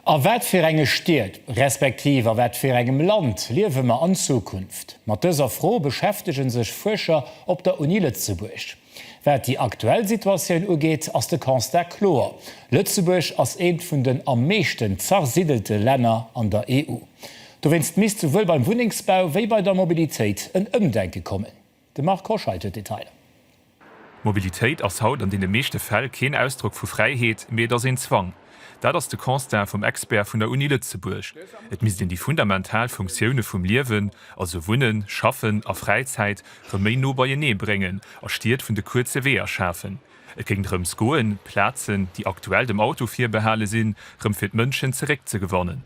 A wat fir enge Stied, respektiv a wat fir engem Land liewe mer an Zukunft? Mat dëser Fro beschäftege sech Fuerscher op der Uni Lëtzebuerg. Wat déi aktuell Situatioun ugeet, ass de Constat kloer, Lëtzebuerg ass eent vun den am meeschten zersiddelte Länner an der EU. Dowéinst misst souwuel beim Wunnengsbau wéi bei der Mobilitéit en Ëmdenke kommen. De Marc Hoscheid huet d'Detailer. D'Mobilitéit ass haut an deene meeschte Fäll keen Ausdrock vu Fräiheet, mee et ass een Zwang. Dat ass de Constat vum Expert vun der Uni Lëtzebuerg. Et misst een déi fundamental Funktioune vum Liewen, also Wunnen, Schaffen a Fräizäit, rëm méi no beienee bréngen a Stied vun de kuerze Weeër schafen. Et géing drëms goen, Plazen, déi aktuell dem Auto virbehale sinn, rëm fir d'Mënschen zeréckzegewannen.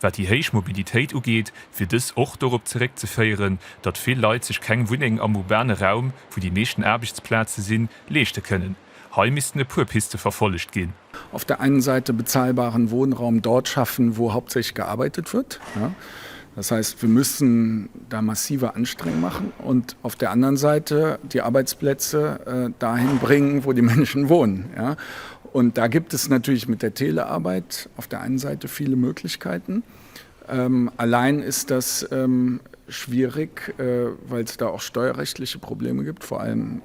Wat déi héich Mobilitéit ugeet, wier dës och dorop zeréckzeféieren, datt vill Leit sech keng Wunneng am urbane Raum, wou déi meeschten Aarbechtsplaze sinn, leeschte kënnen. Hei missten e puer Piste verfollegt ginn. Auf der einen Seite bezahlbaren Wohnraum dort schaffen, wo hauptsächlich gearbeitet wird. Das heißt, wir müssen da massive Anstrengungen machen und auf der anderen Seite die Arbeitsplätze dahin bringen, wo die Menschen wohnen. Und da gibt es natürlich mit der Telearbeit auf der einen Seite viele Möglichkeiten. Allein ist das schwierig, weil es da auch steuerrechtliche Probleme gibt, vor allem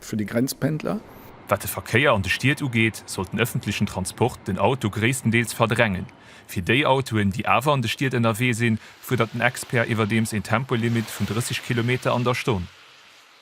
für die Grenzpendler. Wat de Verkéier an de Stied ugeet, sollt den öffentlichen Transport den Auto gréisstendeels verdrängen. Fir déi Autoen, déi awer an de Stied ënnerwee sinn, fuerdert den Expert iwwerdeems een Tempolimit vun 30 Kilometer an der Stonn.